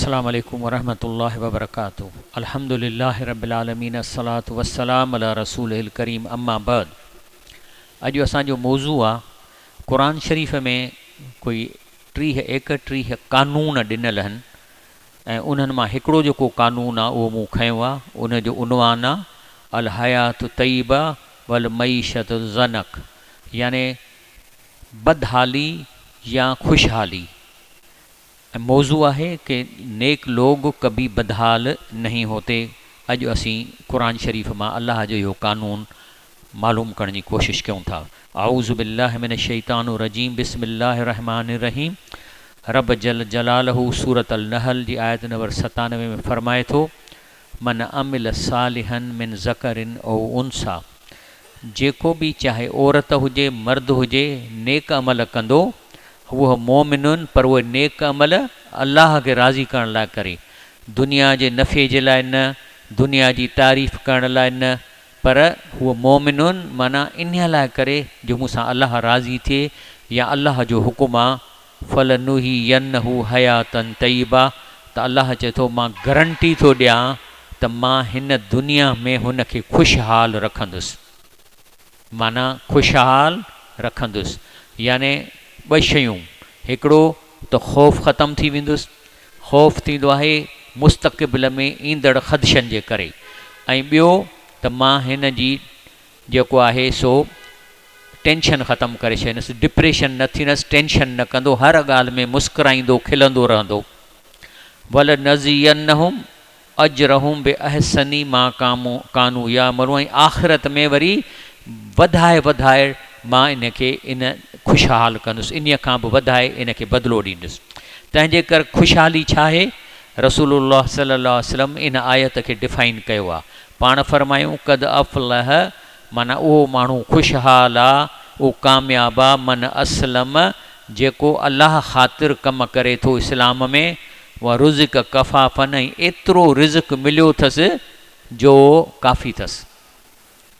السلام عليڪم ورحمة الله وبرڪاته الحمد لله رب العالمين الصلاة والسلام علي رسوله الڪريم اما بعد اڄ اسان جو موضوع آ قرآن شريف ۾ ڪوئي ٽيهه ايڪٽيهه قانون ڏنل هن ۽ انهن مان هڪڙو جيڪو قانون آ اهو مون کنيو آ ان جو عنوان آ الحياة طيبه والمعيشة ضنڪ يعني بدحالي يا خوشحالي ۽ موضوع آهي ڪي نيڪ لوگ ڪبي بدحال نهين هوتي اڄ اسين قرآن شريف مان الله جو اهو قانون معلوم ڪرڻ جي ڪوشش ڪيون ٿا اعوذ بالله من الشيطان الرجيم بسم الله الرحمٰن الرحيم رب جل جلاله سورة النحل جي آيت نمبر ستانوي ۾ فرمائي ٿو. من عمل صالحا من ذکر او انثی جيڪو به چاهي عورت هجي مرد هجي نيڪ عمل ڪندو هو مؤمن پر اهي نيڪ عمل الله کي راضي ڪرڻ لاء ڪري دنيا جي نفعي جي لاء نه دنيا جي تعريف ڪرڻ لاء نه پر هو مؤمن معنيٰ انهي لاء ڪري جو مون سان الله راضي ٿئي يا الله جو حڪم آ فلنحيينه حياتا طيبه ته الله چئي ٿو مان گرنٽي ٿو ڏيان ته مان هن دنيا ۾ هن کي خوشحال رکندس معنيٰ خوشحال رکندس يعني ٻه شيون هڪڙو ته خوف ختم ٿي ويندس خوف ٿيندو آهي مستقبل ۾ ايندڙ خدشن جي ڪري ۽ ٻيو ته مان هن جي جيڪو آهي سو ٽينشن ختم ڪري ڇڏيندس، ڊپريشن نه ٿيندس، ٽينشن نه ڪندو، هر ڳالهه ۾ مسڪرائيندو کلندو رهندو. ولنجزينهم اجرهم باحسن ما ڪانو يعملون ۽ آخرت ۾ وري وڌائي وڌائي مان ان کي ان خوشحال ڪندس، انهي کان به وڌائي ان کي بدلو ڏيندس. تنهنجي ڪر خوشحالي ڇا آهي؟ رسول الله صلي الله عليه وسلم ان آيت کي ڊفائن ڪيو آهي. پاڻ فرمايون قد افلح معنيٰ اهو ماڻهو خوشحال آ، اهو ڪامياب آ، من اسلم جيڪو الله خاطر ڪم ڪري ٿو اسلام ۾، ورزق ڪفافا ۽ ايترو رزق مليو اٿس جو ڪافي اٿس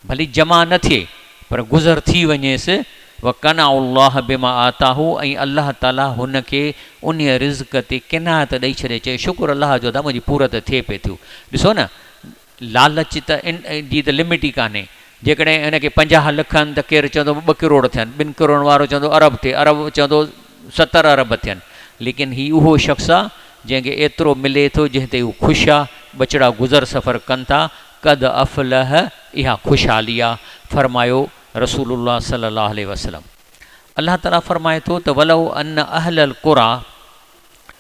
ڀلي جمع نه ٿئي پر گذر ٿي وڃيس، وقنعه الله بما آتاه ۽ الله تعالي هن کي انهيء رزق تي قناعت ڏئي ڇڏي چئي شڪر الله جو ادا منهنجي پورت ٿئي پئي ٿيو ڏسو نه لالچ ته ان جي ته لمٽ ئي ڪانهي. جيڪڏهن ان کي پنجاهه لک آهن ته ڪير چوندو ٻه ڪروڙ ٿين، ٻن ڪروڙن وارو چوندو ارب ٿئي، ارب چوندو ستر ارب ٿين. ليڪن هي اهو شخص آ، جنهن کي ايترو ملي ٿو، جنهن تي هو خوش آ، ٻچڙا گذر سفر ڪن ٿا، قد افلح اها خوشحالي آ، فرمايو رسول الله صلي الله عليه وسلم. الله تعاليٰ فرمائي ٿو ته ولو ان اهل القريٰ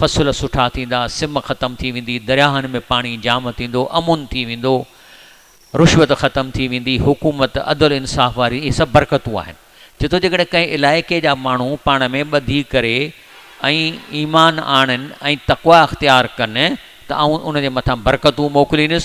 فصل سٺا ٿيندا، سم ختم ٿي ويندي، درياهن ۾ پاڻي جام ٿيندو، امن ٿي ويندو، رشوت ختم ٿي ويندي، حڪومت، عدل انصاف واري اهي سڀ برڪتون آهن. چي ٿو جيڪڏهن ڪنهن علائقي جا ماڻهو پاڻ ۾ ٻڌي ڪري ۽ ايمان آڻن ۽ تقويٰ اختيار ڪن ته آئون انهن جي مٿان برڪتون موڪليندس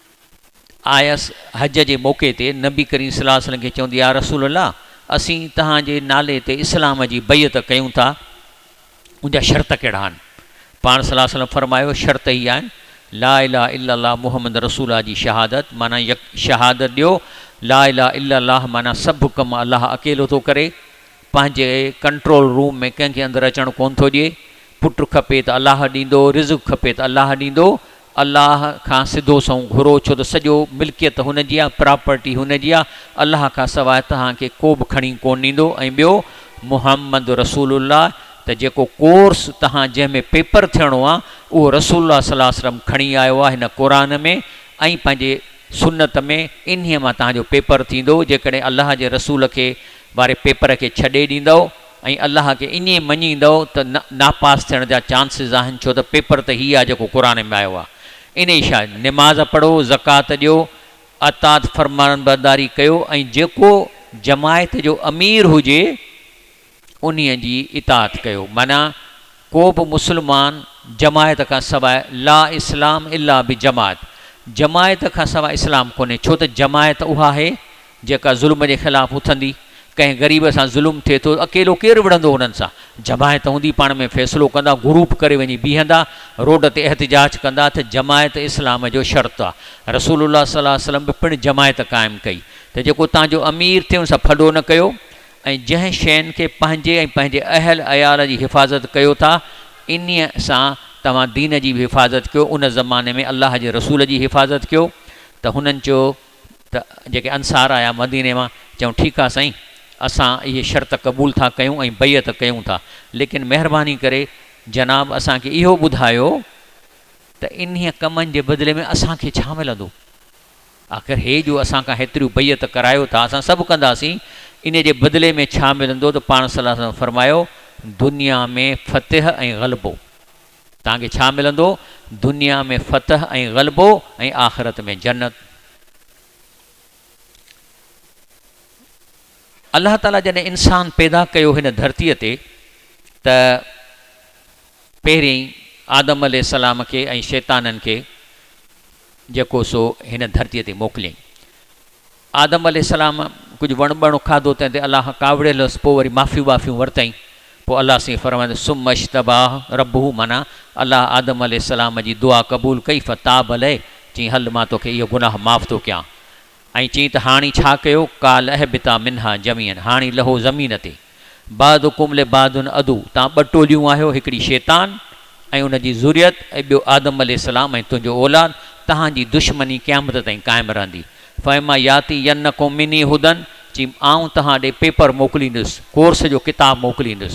آيس حج جي موقعي تي نبي ڪريم صلي الله عليه وسلم کي چوندي يا رسول الله اسين توهان جي نالي تي اسلام جي بيعت ڪيون ٿا ان جا شرط ڪهڙا آهن؟ پاڻ صلي الله عليه وسلم فرمايو شرط هي آهن لا اله الا الله محمد رسول الله جي شهادت معنيٰ يڪ شهادت ڏيو لا اله الا الله معنيٰ سڀ ڪم الله اڪيلو ٿو ڪري پنهنجي ڪنٽرول روم ۾ ڪنهن کي اندر اچڻ ڪونه ٿو ڏئي پٽ کپي ته الله ڏيندو رزق کپي ته الله ڏيندو الله کان سڌو سنئون گهرو ڇو ته سڄو ملڪيت هن جي آهي، پراپرٽي هن جي آهي، الله کان سواء توهان کي ڪو به کڻي ڪونه ڏيندو ۽ ٻيو محمد رسول الله ته جيڪو ڪورس توهان جنهن ۾ پيپر ٿيڻو آهي اهو رسول الله صلي الله عليه وسلم کڻي آيو آهي هن قرآن ۾ ۽ پنهنجي سنت ۾ انهي مان توهان جو پيپر ٿيندو جيڪڏهن الله جي رسول کي واري پيپر کي ڇڏي ڏيندؤ ۽ الله کي ائين مڃيندؤ ته نه ناپاس ٿيڻ جا چانسز آهن ڇو ته پيپر ته هي آهي جيڪو قرآن ۾ آيو آهي انهي شاء نماز پڙهو زڪوات ڏيو اطاعت فرمانبرداري ڪيو ۽ جيڪو جماعت جو امير هجي انهي جي اطاعت ڪيو معنيٰ ڪو به مسلمان جماعت کان سواء لا اسلام الا بجماعت جماعت کان سواء اسلام ڪونهي ڇو ته جماعت اها آهي جيڪا ظلم جي خلاف اٿندي، ڪنهن غريب سان ظلم ٿئي ٿو، اڪيلو ڪير وڙهندو انهن سان، جماعت هوندي پاڻ ۾ فيصلو ڪندا، گروپ ڪري وڃي بيهندا، روڊ تي احتجاج ڪندا ته جماعت اسلام جو شرط آ، رسول الله صلي الله عليه وسلم به پڻ جماعت قائم ڪئي ته جيڪو توهان جو امير ٿئي ان سان ڦڏو نه ڪيو، ۽ جنهن شين کي پنهنجي ۽ پنهنجي اهل عيال جي حفاظت ڪيو ٿا انهي سان توهان دين جي به حفاظت ڪيو، ان زماني ۾ الله جي رسول جي حفاظت ڪيو ته هنن چيو. ته جيڪي انصار آيا مديني مان چيائون ٺيڪ آ سائين اسان اهي شرط قبول ٿا ڪيون ۽ بيعت ڪيون ٿا ليڪن مهرباني ڪري جناب اسان کي اهو ٻڌايو ته انهي ڪمن جي بدلي ۾ اسان کي ڇا ملندو آخر هي جو اسان کان هيتريون بيعت ڪرايو ٿا اسان سڀ ڪنداسين انهي جي بدلي ۾ ڇا ملندو ته پاڻ صلي الله عليه وسلم فرمايو دنيا ۾ فتح ۽ غلبو. توهان کي ڇا ملندو؟ دنيا ۾ فتح ۽ غلبو ۽ آخرت ۾ جنت. الله تعاليٰ جڏهن انسان پيدا ڪيو هن ڌرتيء تي ته پهرين آدم عليه السلام کي ۽ شيطانن کي جيڪو سو هن ڌرتيء تي موڪليائين. آدم عليه السلام ڪجهه وڻ ٻڻ کاڌو تنهن تي الله ڪاوڙيل هيس پوء وري معافيون ٻافيون ورتائين پوء الله سائين فرمائي ثم اجتباه ربه معنيٰ الله آدم عليه السلام جي دعا قبول ڪئي فتاب عليه چيائين هل مان توکي اهو گناهه معاف ٿو ڪيان ۽ چيائين ته هاڻي ڇا ڪيو قال اهبطا منها جميعا هاڻي لهو زمين تي. بعضڪم لبعض عدو، توهان ٻه ٽوليون آهيو، هڪڙي شيطان ۽ ان جي ذريت ۽ ٻيو آدم عليه السلام ۽ تنهنجو اولاد، تهان جي دشمني قيامت تائين قائم رهندي. فاما ياتينکم مني هدًا، چي آئون توهان ڏي پيپر موڪليندس، ڪورس جو ڪتاب موڪليندس.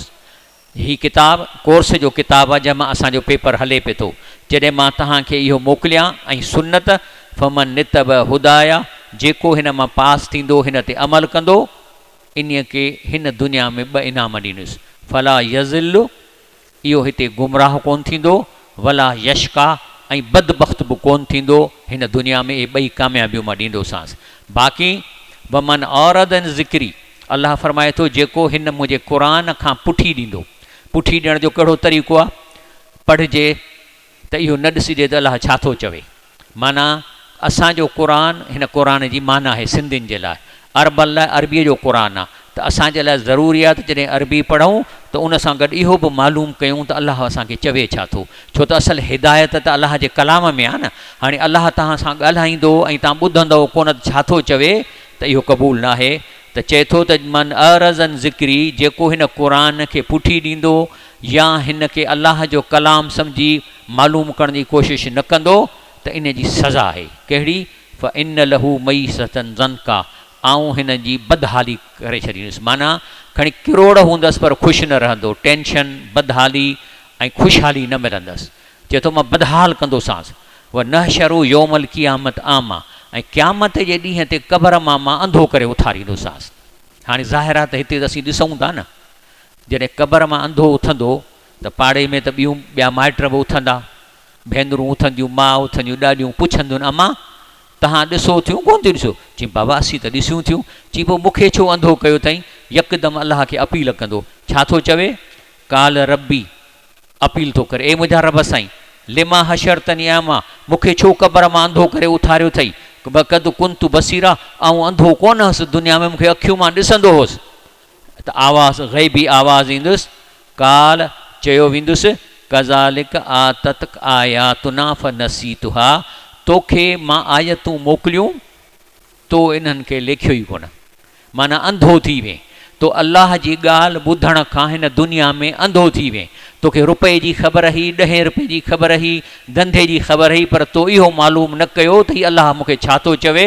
هي ڪتاب ڪورس جو ڪتاب آهي جنهن مان اسان جو پيپر هلي پئي ٿو. جڏهن مان توهان کي اهو موڪليان ۽ سنت، فمن اتبع هدايٰ، جيڪو هن مان پاس ٿيندو، هن تي عمل ڪندو، انهيء کي هن دنيا ۾ ٻه انعام ڏيندس، فلا يضل، اهو هتي گمراهه ڪونه ٿيندو، ولا يشقيٰ، ۽ بدبخت به ڪونه ٿيندو، هن دنيا ۾ اهي ٻئي ڪاميابيون مان ڏيندوسانس. باقي ومن اعرض عن ذڪري، الله فرمائي ٿو، جيڪو هن منهنجي قرآن کان پٺي ڏيندو، پٺي ڏيڻ جو ڪهڙو طريقو آهي، پڙهجي، ته اهو نه ڏسجي ته الله ڇا ٿو چوي. معنيٰ، اسان جو قرآن، هن قرآن جي معنيٰ آهي سنڌين جي لاء، عربن لاء عربيء جو قرآن آ ته اسان جي لاء ضروري آ ته جڏهن عربي پڙهون ته ان سان گڏ اهو به معلوم ڪيون ته الله اسان کي چوي ڇا ٿو ڇو ته اصل هدايت ته الله جي ڪلام ۾ آ نه. هاڻي الله توهان سان ڳالهائيندو ۽ توهان ٻڌندؤ ڪونه ته ڇا ٿو چوي ته اهو قبول نه آهي ته چئي ٿو ته من اعرض عن ذڪري جيڪو هن قرآن کي پٺي ڏيندو يا هن کي الله جو ڪلام سمجهي معلوم ڪرڻ جي ڪوشش نه ڪندو ته ان جي سزا آهي، ڪهڙي، فان له معيشة ضنڪا، آئون هن جي بدحالي ڪري ڇڏيندس، معنيٰ کڻي ڪروڙ هوندس پر خوش نه رهندو، ٽينشن، بدحالي ۽ خوشحالي نه ملندس، چئي ٿو مان بدحال ڪندوسانس، ونحشره يوم القيامة اعميٰ، ۽ قيامت جي ڏينهن تي قبر مان مان انڌو ڪري اٿاريندوسانس. هاڻي ظاهر آهي ته هتي ته اسين ڏسون ٿا نه جڏهن قبر مان انڌو اٿندو ته پاڙي ۾ ته ٻيون ٻيا مائٽ به اٿندا. ڀينرون اٿنديون، ماء اٿنديون، ڏاڏيون پڇنديون اما! توهان ڏسو ٿيون ڪونه ٿيون ڏسو؟ چئين بابا اسين ته ڏسيون ٿيون. چئين پوء مون کي ڇو انڌو ڪيو اٿائين؟ يڪدم الله کي اپيل ڪندو ڇا ٿو چوي؟ قال ربي اپيل ٿو ڪري اي منهنجا رب سائين! لما حشرتني اعميٰ مون کي ڇو قبر مان انڌو ڪري اٿاريو اٿئي؟ وقد ڪنت بصيرا آئون انڌو ڪونه هوس دنيا ۾ مون کي اکيون مان ڏسندو هوس. ته آواز غيبي آواز ايندس قال چيو ويندس ڪذالڪ آتتڪ آياتنا فنسيتها توکي مان آيتون موڪليون تو انهن کي ليکيو ئي ڪونه معنيٰ انڌو ٿي وئين تو الله جي ڳالهه ٻڌڻ کان هن دنيا ۾ انڌو ٿي وئين توکي رپئي جي خبر هئي ڏهين رپئي جي خبر هئي ڌنڌي جي خبر هئي پر تو اهو معلوم نه ڪيو ته هي الله مونکي ڇا ٿو چوي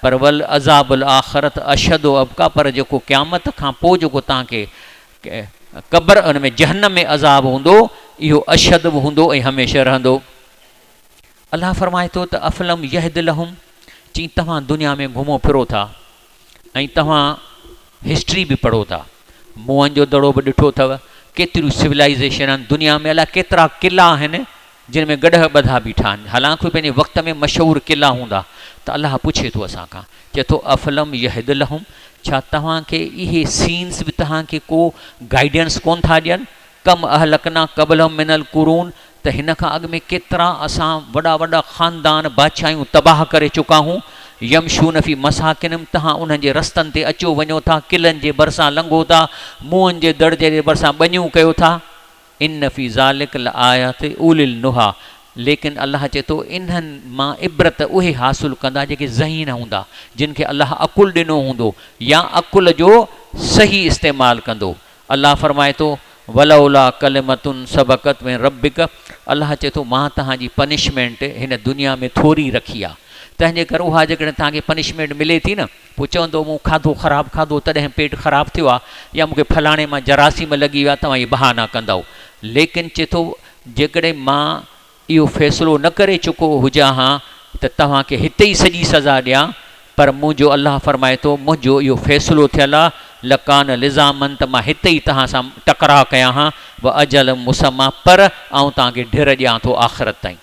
پر ولعذاب الاخرة اشد و ابقيٰ پر جيڪو قيامت کان پوء جيڪو توهان کي قبر ان ۾ جهنم ۾ عذاب هوندو اهو اشد به هوندو ۽ هميشه رهندو. الله فرمائي ٿو ته افلم يهد لهم چين توهان دنيا ۾ گهمو ڦرو ٿا ۽ توهان هسٽري به پڙهو ٿا موئن جو دڙو به ڏٺو اٿو ڪيتريون سولائيزيشنون دنيا ۾ الاء ڪيترا قلعا آهن جن ۾ گڏهه ٻڌا بيٺا آهن، حالانڪ اهي پنهنجي وقت ۾ مشهور قلعا هوندا ته الله پڇي ٿو اسان کان، چئي ٿو، افلم يهد لهم، ڇا توهان کي اهي سينز به توهان کي ڪو گائيڊنس ڪونه ٿا ڏين، ڪم اهلڪنا قبلهم من القرون، ته هن کان اڳ ۾ ڪيترا اسان وڏا وڏا خاندان، بادشاهيون تباهه ڪري چڪا هون، يمشون في مساڪنهم، توهان انهن جي رستن تي اچو وڃو ٿا، قلعن جي ڀرسان لنگهو ٿا، موئن جي دڙ جي برسان ٻنيون ڪيو ٿا. ان في ذلک لآيات اولي النهي ليڪن الله چئي ٿو انهن مان عبرت اهي حاصل ڪندا جيڪي ذهين هوندا جن کي الله عقل ڏنو هوندو يا عقل جو صحيح استعمال ڪندو الله فرمائي ٿو ولولا ڪلمة سبقت من ربک الله چئي ٿو مان توهان جي پنشمينٽ هن دنيا ۾ ٿوري رکي آ تنهنجي ڪري اها جيڪڏهن توهان کي پنشمينٽ ملي ٿي نه پوء چوندو مون کاڌو خراب کاڌو تڏهن پيٽ خراب ٿيو آ يا مون کي فلاڻي مان جراثيم لڳي ويا توهان اهي بهانا ڪندؤ ليڪن چئي ٿو جيڪڏهن مان اهو فيصلو نه ڪري چڪو هجان ها ته توهان کي هتي ئي سڄي سزا ڏيان پر منهنجو الله فرمائي ٿو منهنجو اهو فيصلو ٿيل آ لڪان لزامن ته مان هتي ئي توهان سان ٽڪراء ڪيان ها واجل مسمّا پر آئون توهان کي ڍر ڏيان ٿو آخرت تائين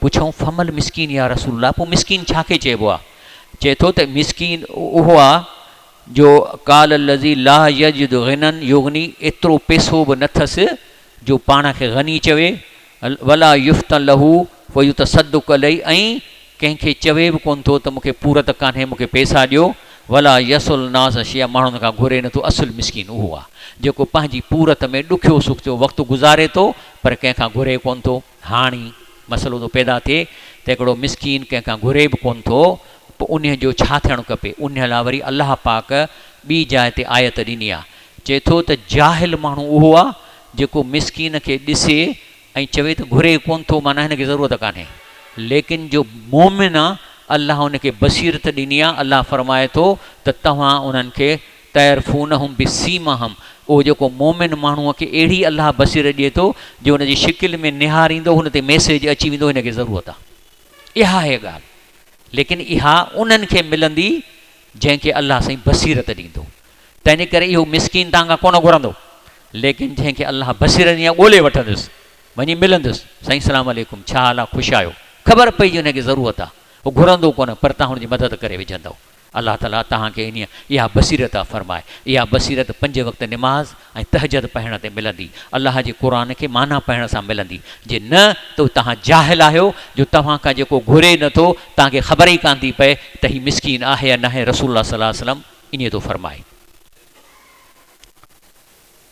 پڇيائون فمل مسڪين يا رسول الله پوء مسڪين ڇا کي چئبو آهي؟ چئي ٿو ته مسڪين اهو آهي جو قال الذي لا يجد غنًا يغني ايترو پئسو به نه ٿس جو پاڻ کي غني چوي ولا يفتن له فيتصدق عليه ۽ ڪنهن کي چوي به ڪونه ٿو ته مون کي پورت ڪانهي مون کي پئسا ڏيو ولا يسل الناس شيئا ماڻهن کان گهري نه ٿو اصل مسڪين اهو آهي جيڪو پنهنجي پورت ۾ ڏکيو سکيو وقت گذاري ٿو پر ڪنهن کان گهري ڪونه ٿو. هاڻي مسئلو ٿو پيدا ٿئي ته هڪڙو مسڪين ڪنهن کان گهري به ڪونه ٿو پوء انهي جو ڇا ٿيڻ کپي؟ انهي لاء وري الله پاڪ ٻي جاء تي آيت ڏني آهي چئي ٿو ته جاهل ماڻهو اهو آهي جيڪو مسڪين کي ڏسي ۽ چوي ته گهري ڪونه ٿو معنيٰ هن کي ضرورت ڪانهي ليڪن جو مؤمن آهي الله ان کي بصيرت ڏني آهي الله فرمائي ٿو ته توهان انهن کي تعرفونهم بسيماهم اهو جيڪو مؤمن ماڻهو کي اهڙي الله بصيرت ڏئي ٿو جو ان جي شڪل ۾ نهاريندو هن تي ميسيج اچي ويندو هن کي ضرورت آ اها هي ڳالهه ليڪن اها انهن کي ملندي جنهن کي الله سائين بصيرت ڏيندو تنهنجي ڪري اهو مسڪين توهان کان ڪونه گهرندو ليڪن جنهن کي الله بصيرت ڏيندي ڳولي وٺندس وڃي ملندس سائين السلام عليڪم ڇا حال آ خوش آهيو خبر پئي جو هن کي ضرورت آ هو گهرندو ڪونه پر توهان هن جي مدد ڪري وجهندو الله تعاليٰ توهان کي انهيء اها بصيرت عطا فرمائي. اها بصيرت پنج وقت نماز ۽ تهجد پڙهڻ تي ملندي. الله جي قرآن کي معنيٰ پڙهڻ سان ملندي. جي نه ته توهان جاهل آهيو جو توهان کان جيڪو گهري نه ٿو، توهان کي خبر ئي ڪانه ٿي پئي ته هي مسڪين آهي يا ناهي رسول الله صلي الله عليه وسلم انهيء ٿو فرمائي.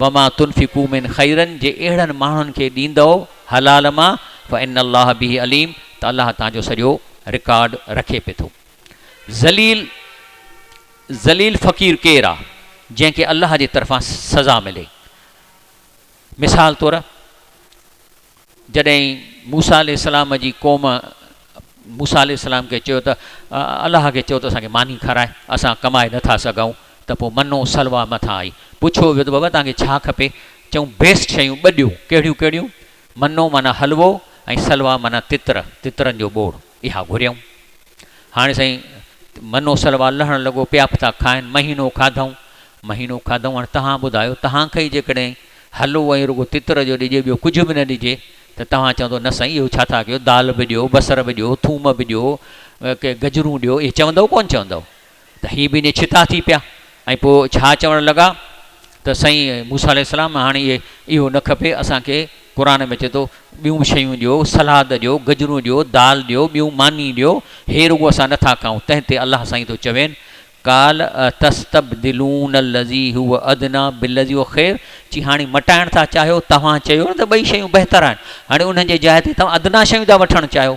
وما تنفقو من خيرا جي اهڙن ماڻهن کي ڏيندؤ حلال مان فان الله به عليم ته الله توهان جو سڄو رڪارڊ رکي پئي ٿو. ذليل ذليل فقير ڪير آ جنهن کي الله جي طرفان سزا ملي مثال طور جڏهن موسيٰ عليه السلام جي قوم موسيٰ عليه السلام کي چيو ته الله کي چئو ته اسان کي ماني کارائي، اسان ڪمائي نه ٿا سگهون، ته پوء منّ و سلويٰ مٿان آئي. پڇيو ويو ته بابا توهان کي ڇا کپي؟ چئون بيسٽ شيون ٻه ڏيو. ڪهڙيون ڪهڙيون؟ منّ معنيٰ حلوو ۽ سلويٰ معنيٰ تتر، تترن جو ٻوڙ. اها گهريائون. هاڻي سائين منو سلوا لهڻ لڳو، پيا به ٿا کائن، مهينو کاڌائون، مهينو کاڌائون، هاڻي توهان ٻڌايو، توهان کي ئي جيڪڏهن هلو ۽ رڳو تتر جو ڏجي، ٻيو ڪجهه به نه ڏجي، ته توهان چوندو، نه سائين اهو ڇا ٿا ڪيو، دال به ڏيو، بصر به ڏيو، ٿوم به ڏيو، ڪي گجرون ڏيو، اهي چوندؤ ڪونه چوندؤ؟ ته هي ٻنهي ڇتا ٿي پيا ۽ پوء ڇا چوڻ لڳا ته سائين موسيٰ عليه السلام هاڻي اهو نه کپي اسان کي قرآن ۾ اچي ٿو ٻيون به شيون ڏيو سلاد ڏيو گجرون ڏيو دال ڏيو ٻيون ماني ڏيو هي رڳو اسان نه ٿا کائون تنهن تي الله سائين ٿو چوين قال اتستبدلون الذي هو ادنٰي بالذي هو خير چي هاڻي مٽائڻ ٿا چاهيو توهان چيو نه ته ٻئي شيون بهتر آهن هاڻي انهن جي جاء تي توهان ادنٰي شيون ٿا وٺڻ چاهيو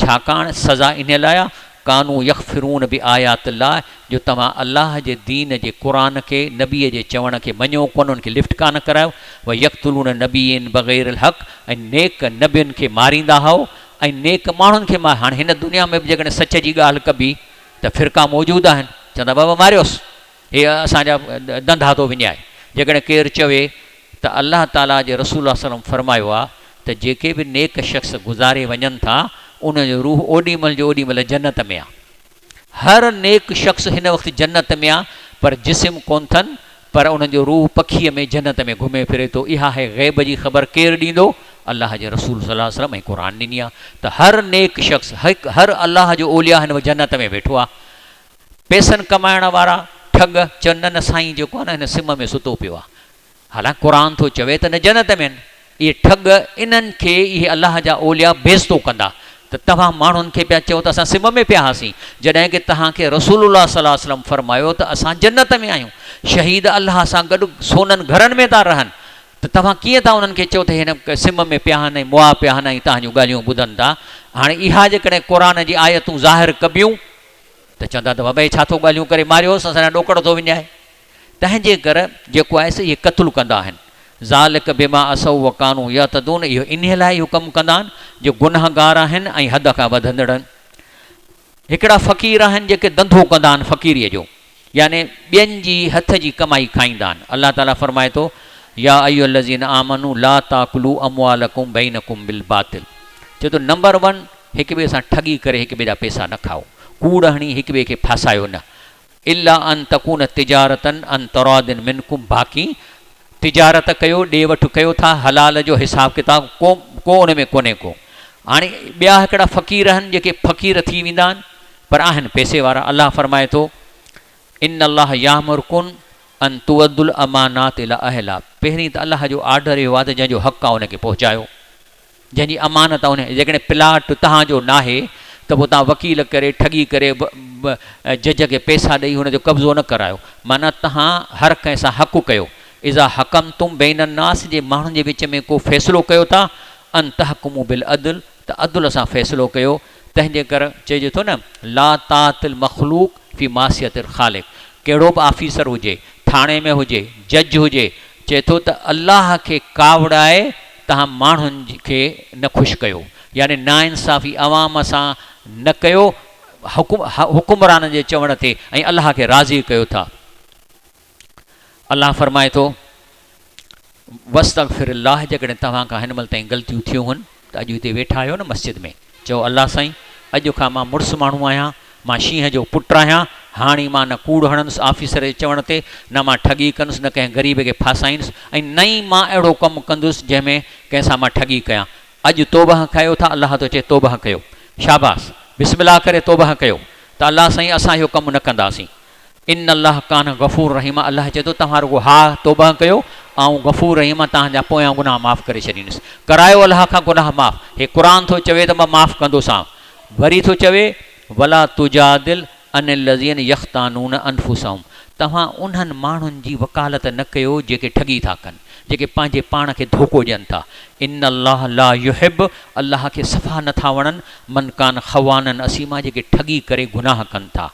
ڇاڪاڻ سزا انهيء لاء آهي، ڪانو يڪفرون بآيات الله، جو توهان الله جي دين جي قرآن کي، نبيء جي چوڻ کي، مڃيو ڪونه، ان کي لفٽ ڪانه ڪرايو، ويقتلون النبيين بغير الحق، ۽ نيڪ نبين کي ماريندا هئو، ۽ نيڪ ماڻهن کي مار هاڻي هن دنيا ۾ به جيڪڏهن سچ جي ڳالهه ڪبي ته فرقا موجود آهن، چوندا بابا ماريوس. هي اسان جا ڏندا ٿو وڃائي. جيڪڏهن ڪير چوي ته الله تعاليٰ جي رسول صلّي اللّٰه عليه وسلّم فرمايو آهي ته جيڪي به نيڪ شخص گذاري وڃن ٿا انهن جو روح اوڏي مهل جو اوڏي مهل جنت ۾ آهي. هر نيڪ شخص هن وقت جنت ۾ آهي پر جسم ڪونه ٿن پر انهن جو روح پکيء ۾ جنت ۾ گهمي ڦري ٿو. اها هي غيب جي خبر ڪير ڏيندو؟ الله جي رسول صلّي اللّٰه عليه وسلّم ۽ قرآن ڏني آهي ته هر نيڪ شخص هڪ هر الله جو اولياء هن وقت جنت ۾ ويٺو آهي. پيسن ڪمائڻ وارا ٺڳ چون نه نه سائين جو ڪونه هن سم ۾ ستو پيو آهي حالانڪ قرآن ٿو چوي ته نه جنت ۾ آهن اهي ٺڳ انهن کي اهي الله جا اولياء بيزتو ڪندا ته توهان ماڻهن کي پيا چئو ته اسان سم ۾ پيا هئاسين جڏهن ڪه توهان کي رسول الله صلي الله وسلم فرمايو ته اسان جنت ۾ آهيون شهيد الله سان گڏ سونن گهرن ۾ ٿا رهن ته توهان ڪيئن ٿا انهن کي چئو ته هن سم ۾ پيا آهن ۽ مئا پيا آهن ۽ توهان جون ڳالهيون ٻڌن ٿا هاڻي اها جيڪڏهن قرآن جي آيتون ظاهر ڪبيون ته چوندا ته وڀائي ڇا ٿو ڳالهيون ڪري، ماريوس اسان ڏانهن ڏوڪڙ ٿو وڃائي. تنهنجي ڪري جيڪو آهي سي اهي قتل ڪندا آهن. ذٰلک بما عصوا وڪانوا يعتدون اهو انهي لاء اهو ڪم ڪندا آهن جو گنهگار آهن ۽ حد کان وڌندڙ آهن. هڪڙا فقير آهن جيڪي ڌنڌو ڪندا آهن فقيريء جو. يعني ٻين جي هٿ جي ڪمائي کائيندا آهن، الله تعالي فرمائي ٿو، يا ايها الذين آمنوا لا تاڪلوا اموالڪم بينڪم بالباطل چئي ٿو نمبر ون هڪ ٻئي سان ٺڳي ڪري هڪ ٻئي جا پئسا نه کائو، ڪوڙ هڻي هڪ ٻئي کي ڦاسايو نه، الا ان تڪون تجارة عن تراض منڪم باقي تجارت ڪيو، ڏي وٺ ڪيو ٿا، حلال جو حساب ڪتاب ڪو ڪو ان ۾ ڪونهي ڪو. هاڻي ٻيا هڪڙا فقير آهن جيڪي فقير ٿي ويندا آهن، پر آهن پئسي وارا الله فرمائي ٿو ان الله يامرڪن ان تؤدوا الامانات الي اهلها پهرين ته الله جو آرڊر اهو آهي ته جنهن جو حق آهي ان کي پهچايو جنهن جي امانت آهي ان جيڪڏهن پلاٽ توهان جو ناهي ته پوء توهان وڪيل ڪري ٺڳي ڪري جج کي پئسا ڏئي ان جو قبضو نه ڪرايو معنيٰ توهان هر ڪنهن سان حق ڪيو اذا حڪمتم بين الناس جي ماڻهن جي وچ ۾ ڪو فيصلو ڪيو ٿا ان تحڪموا بالعدل ته عدل اسان فيصلو ڪيو، تنهنجي ڪر چئجي ٿو نه لا طاعت المخلوق في معصيت الخالق ڪهڙو به آفيسر هجي، ٿاڻي ۾ هجي، جج هجي، چئي ٿو ته الله کي ڪاوڙائي توهان ماڻهن کي نه خوش ڪيو، يعني ناانصافي عوام سان نه ڪيو، حڪمرانن جي چوڻ تي ۽ الله کي راضي ڪيو ٿا. الله فرمائي ٿو، واستغفر الله جيڪڏهن توهان کان هن مهل تائين غلطيون ٿيون هن ته اڄ هتي ويٺا آهيو نه مسجد ۾ چئو الله سائين اڄ کان مان مڙس ماڻهو آهيان مان شينهن جو پٽ آهيان هاڻي مان نه ڪوڙ هڻندس آفيسر جي چوڻ تي نه مان ٺڳي ڪندس نه ڪنهن غريب کي ڦاسائيندس ۽ نه ئي مان اهڙو ڪم ڪندس جنهن ۾ ڪنهن سان مان ٺڳي ڪيان اڄ توبهه ڪيو ٿا الله ٿو چئي توبهه ڪيو شاباس بسم الله ڪري توبهه ڪيو ته الله سائين اسان اهو ڪم نه ڪنداسين ان الله ڪان غفور رحيما الله چئي ٿو توهان رڳو ها توبه ڪيو آئون غفور رحيم آ توهان جا پويان گناهه معاف ڪري ڇڏيندس ڪرايو الله کان گناهه معاف هي قرآن ٿو چوي ته مان معاف ڪندوسانو وري ٿو چوي ولا تجادل عن الذين يختانون انفسهم توهان انهن ماڻهن جي وڪالت نه ڪيو جيڪي ٺڳي ٿا ڪن جيڪي پنهنجي پاڻ کي ڌوڪو ڏين ٿا ان الله لا يحب الله کي صفا نه ٿا وڻن من ڪان خوانا اثيما جيڪي ٺڳي ڪري گناهه ڪن ٿا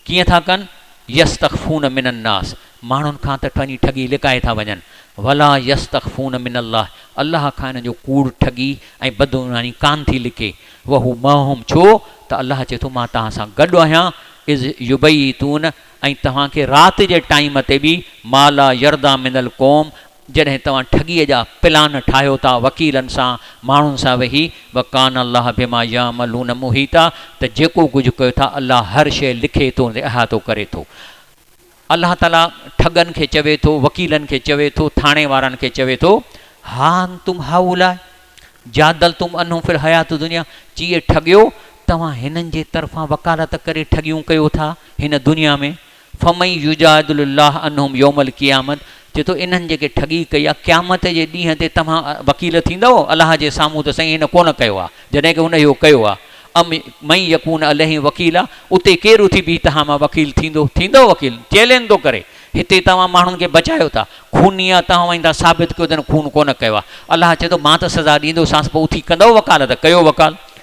ڪيئن ٿا ڪن، يستخفون من الناس، ماڻهن کان ته پنهنجي ٺڳي لڪائي ٿا وڃن، ولا يستخفون من الله، الله کان انهن جو ڪوڙ، ٺڳي ۽ بدعنواني ڪانه ٿي لڪي، وهو معهم، ڇو ته الله چئي ٿو مان توهان سان گڏ آهيان، اذ يبيتون، ۽ توهان کي رات جي ٽائيم تي به، ما لا يرضيٰ من القوم، جڏهن توهان ٺڳيء جا پلان ٺاهيو ٿا وڪيلن سان ماڻهن سان ويهي وڪان الله بما يعملون محيطا ته جيڪو ڪجهه ڪيو ٿا الله هر شيء لکي ٿو ۽ احاطو ڪري ٿو الله تعالي ٺڳن کي چوي ٿو وڪيلن کي چوي ٿو ٿاڻي وارن کي چوي ٿو ها انتم هؤلاء جادلتم عنهم في الحيات الدنيا چي اي ٺڳيو توهان هنن جي طرفان وڪالت ڪري ٺڳيون ڪيو ٿا هن دنيا ۾ فمن يجادل الله عنهم يوم القيامة چئي ٿو انهن جيڪي ٺڳي ڪئي آهي قيامت جي ڏينهن تي توهان وڪيل ٿيندؤ الله جي سامهون ته سائين هن ڪونه ڪيو آهي جڏهن ڪي هن اهو ڪيو آهي ام من يڪون عليهم وڪيلا اتي ڪير اٿي بيهي توهان مان وڪيل ٿيندو ٿيندؤ وڪيل چئلين ٿو ڪري هتي توهان ماڻهن کي بچايو ٿا خوني آهي توهان وڃي ٿا ثابت ڪيو ته هن خون ڪونه ڪيو آهي الله چئي ٿو مان ته سزا ڏيندوسانس پوء اٿي ڪندؤ وڪالت ڪيو وڪالت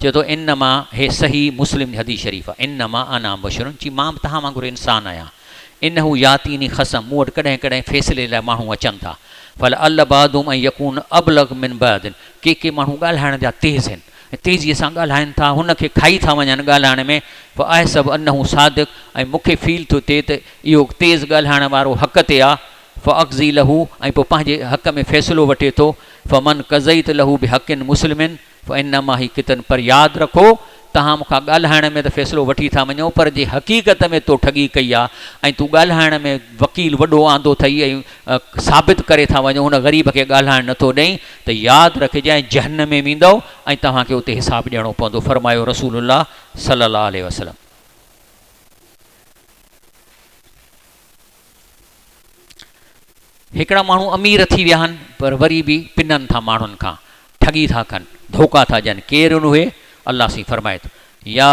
چوي ٿو انما هي صحيح مسلم جي حديث شريف آهي انما انا بشر چي مان به توهان وانگر انسان آهيان انه ياتيني خصم مون وٽ ڪڏهن ڪڏهن فيصلي لاء ماڻهو اچن ٿا فلعل بعضهم ان يڪون ابلغ من بعض ڪي ڪي ماڻهو ڳالهائڻ جا تيز آهن ۽ تيزي سان ڳالهائن ٿا هن کي کائي ٿا وڃن ڳالهائڻ ۾ فاحسب انه صادق ۽ مون کي فيل ٿو ٿئي ته اهو تيز ڳالهائڻ وارو حق تي آهي فاقضي له ۽ پوء پنهنجي حق ۾ فيصلو وٺي ٿو فمن قضيت له بحق مسلم فانما هي فتن پر ياد رکو توهان مون کان ڳالهائڻ ۾ ته فيصلو وٺي ٿا وڃو پر جي حقيقت ۾ تو ٺڳي ڪئي آ ۽ تون ڳالهائڻ ۾ وڪيل وڏو آندو ٿئي ۽ ثابت ڪري ٿا وڃو هن غريب کي ڳالهائڻ نه ٿو ڏئين ته ياد رکجانء جهنم ۾ ويندؤ ۽ توهان کي اتي حساب ڏيڻو پوندو فرمايو رسول الله صلي الله عليه وسلم. هڪڙا ماڻهو امير ٿي ويا آهن پر وري به پنن ٿا ماڻهن کان، ٺڳي ٿا ڪن، ڌوڪا ٿا ڏين، ڪير ان اهي؟ الله سائين فرمائي ٿو، يا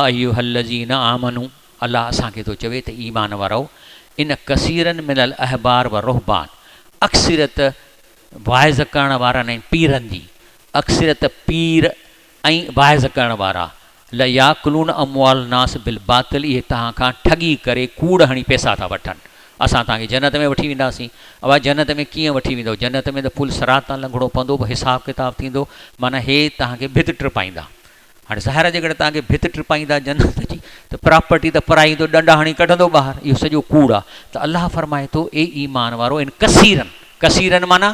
ايها الذين آمنو، الله اسان کي ٿو چوي ته ايمان وارؤ، ان ڪثيرا من الاحبار والرهبان، اڪثريت واعظ ڪرڻ وارن ۽ پيرن جي، اڪثريت پير ۽ واعظ ڪرڻ وارا، لياڪلون اموال الناس بالباطل، اهي توهان کان ٺڳي ڪري ڪوڙ هڻي پئسا ٿا وٺن، اسان توهان کي جنت ۾ وٺي وينداسين، اوهان جنت ۾ ڪيئن وٺي ويندؤ، جنت ۾ ته پل صراط تان لنگهڻو پوندو پوء حساب ڪتاب ٿيندو، معنيٰ هي توهان کي ڀت ٽپائيندا، هاڻي ظاهر آهي جيڪڏهن توهان کي ڀت ٽپائيندا جنت جي ته پراپرٽي ته پرائي هوندو ڏنڊا هڻي ڪڍندو ٻاهر، اهو سڄو ڪوڙ آهي، ته الله فرمائي ٿو اي ايمان وارؤ ان ڪثيرن، ڪثيرن معنيٰ.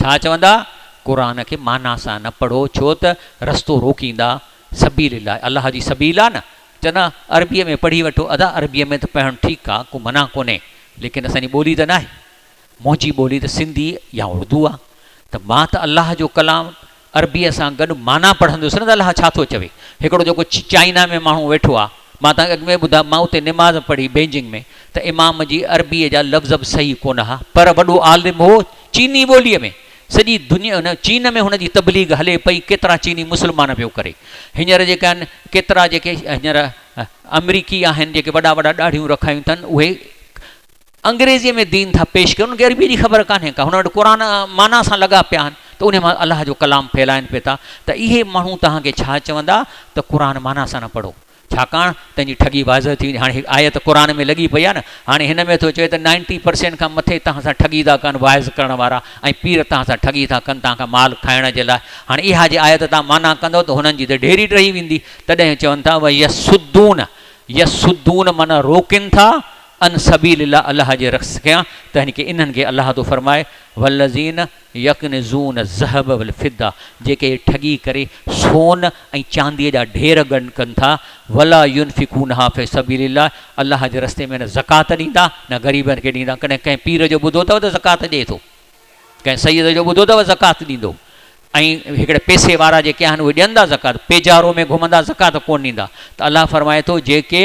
ڇا چوندا؟ قرآن کي معنيٰ سان نه پڙهو ڇو ته رستو روڪيندا، سبيل الله، الله جي سبيل آ نه، چوندا عربيء ۾ پڙهي وٺو، ادا عربيء ۾ ته پڙهڻ ٺيڪ آ، ڪو منع ڪونهي، ليڪن اسان جي ٻولي ته ناهي، منهنجي ٻولي ته سنڌي يا اردو آ، ته مان ته الله جو ڪلام عربيء سان گڏ معنيٰ پڙهندس نه ته الله ڇا ٿو چوي. هڪڙو جيڪو چائنا ۾ ماڻهو ويٺو آ، مان توهان کي اڳ ۾ ئي ٻڌايو، مان اتي نماز پڙهي بيجنگ ۾ ته امام جي عربيء جا لفظ به صحيح ڪونه ها، پر وڏو عالم هو چيني ٻوليء ۾، سڄي دنيا ان چين ۾ هن جي تبليغ هلي پئي، ڪيترا چيني مسلمان پيو ڪري. هينئر جيڪي آهن، ڪيترا جيڪي هينئر آمريڪي آهن جيڪي وڏا وڏا ڏاڙهيون رکايون ٿن، اهي. انگريزيء ۾ دين ٿا پيش ڪن، انهن کي عربيء جي خبر ڪانهي ڪا، هن وٽ قرآن معنيٰ سان لڳا پيا آهن ته انهيء مان الله جو ڪلام ڦهلائين پئي ٿا ته اهي ماڻهو توهان کي ڇا چوندا ته قرآن معنيٰ سان نه پڙهو، ڇاڪاڻ تنهن جي ٺڳي واضح ٿي ويندي، هاڻي هڪ آيت قرآن ۾ لڳي پئي آهي نه، هاڻي هن ۾ ٿو چوي ته نائنٽي پرسينٽ کان مٿي توهان سان ٺڳي ٿا ڪن واعظ ڪرڻ وارا ۽ پير توهان سان ٺڳي ٿا ڪن توهان کان مال کائڻ جي لاء، هاڻي اها جي آيت توهان معنيٰ ڪندؤ ته هنن جي ته ڍيري ٽهي ويندي، تڏهن چون ٿا ويصدون، يصدون معنيٰ روڪين ٿا، ان سبيل الله الله جي رخص ڪيان ته يعني ڪي انهن کي الله ٿو فرمائي والذين يڪنزون الذهب والفضه جيڪي اهي ٺڳي ڪري سون ۽ چانديء جا ڍير گڏ ڪن ٿا ولا ينفقونها في سبيل الله الله جي رستي ۾ نه زڪوات ڏيندا نه غريبن کي ڏيندا ڪڏهن ڪنهن پير جو ٻڌو اٿو ته زڪوات ڏئي ٿو ڪنهن سيد جو ٻڌو اٿو زڪوات ڏيندو ۽ هڪڙي پئسي وارا جيڪي آهن اهي ڏين ٿا زڪوات پيجارو ۾ گهمندا زڪوات ڪونه ڏيندا ته الله فرمائي ٿو جيڪي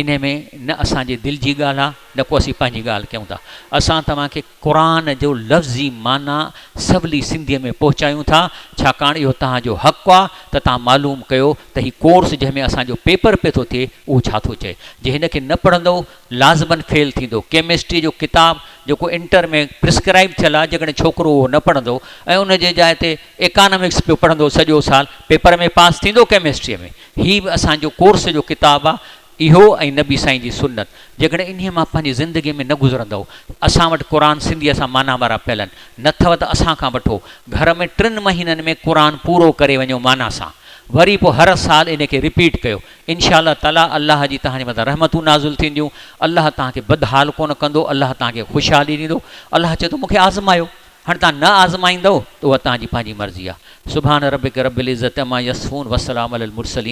انهي ۾ نه اسان جي دل جي ڳالهه آ نه ڪو اسين پنهنجي ڳالهه ڪيون ٿا. اسان توهان کي قرآن جو لفظي معنيٰ سولي سنڌيء ۾ پهچايون ٿا، ڇاڪاڻ اهو توهان جو حق آ ته توهان معلوم ڪيو ته هي ڪورس جنهن ۾ اسان جو پيپر پئي ٿو ٿئي اهو ڇا ٿو چئي. جي هن کي نه پڙهندؤ لازمن فيل ٿيندؤ. ڪيمسٽري جو ڪتاب جيڪو انٽر ۾ پرسڪرائيب ٿيل آ جيڪڏهن ڇوڪرو اهو نه پڙهندؤ ۽ ان جي جاء تي ايڪانامڪس پيو پڙهندؤ سڄو سال پيپر ۾ پاس ٿيندؤ ڪيمسٽريء ۾؟ هي به اسان جو ڪورس جو ڪتاب آ اهو ۽ نبي سائين جي سنت جيڪڏهن انهي مان پنهنجي زندگي ۾ نه گذرندؤ اسان وٽ قرآن سنڌيء سان معنيٰ وارا پيلن نه ٿئو ته اسان کان وٺو گهر ۾ ٽن مهينن ۾ قرآن پورو ڪري وڃو معنيٰ سان وري پو هر سال انهي کي رپيٽ ڪيو انشاء الله تعاليٰ الله جي توهان جي مٿان رحمتون نازل ٿينديون الله توهان کي بدحال ڪونه ڪندو الله توهان کي خوشحالي ڏيندو الله چي ٿو مون کي آزمايو هاڻي توهان نه آزمائيندؤ ته اها توهان جي پنهنجي مرضي آهي. سبحان ربک رب العزة عما يصفون وسلام علي المرسلين.